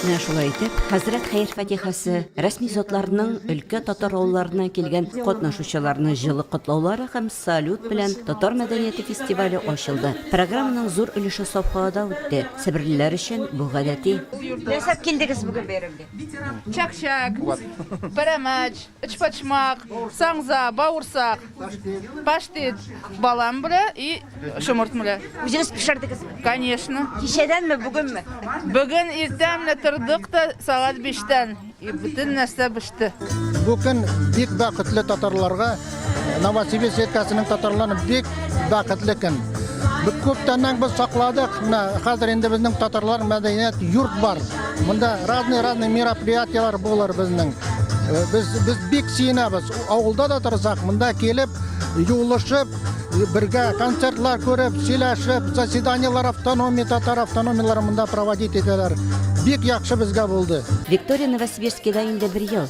Менә шулай итеп, хәзрәт хәер-фатихасы рәсми затларның өлкә татар авылларыннан килгән катнашучыларны җылы котлаулары һәм салют белән татар мәдәнияте фестивале ачылды. Программаның зур өлеше Сафхалада үтте. Себерлеләр өчен бу гадәти. Нәрсә килдегез бүген бәйрәмгә? Чәк-чәк, пәрәмәч. Өчпочмак, саңза, бавырсак, паштет, балан белә и шомырт белә. Үзегез пешердегезме? Конечно. Кичәдәнме, бүгенме? Бүген иртә менә тордык та сагат 5-тән и бөтен нәрсә беште. Бу көн бик бәхетле татарларга Новосибирск өлкәсенең татарларын бик Бәхетле көн. Бик күптәннән без сакладык. Менә хәзер инде безнең татарлар мәдәният йорт бар. Монда разный разный мероприятиеләр булыр безнең. Э, без без бик сөенәбез. Авылда да торсак, монда килеп, юлышып, бергә концертлар күреп, сөйләшеп, заседаниеләр автономия, татар автономияләре монда проводить итәләр. Бик яхшы безгә булды. Виктория Новосибирскида инде бер ел.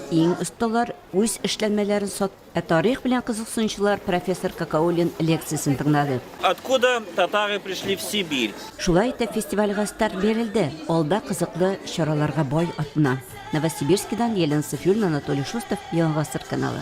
Иң осталар үз эшләнмәләрен сат. Ә тарих белән кызыксынучылар профессор Какауллин лекциясен тыңлады. Откуда татары пришли в Сибирь? Шулай итеп фестивальгә старт бирелде. Алда кызыклы чараларга бай атна. Новосибирскидан Елена Сафиуллина, Анатолий Шустов, Яңа гасыр каналы.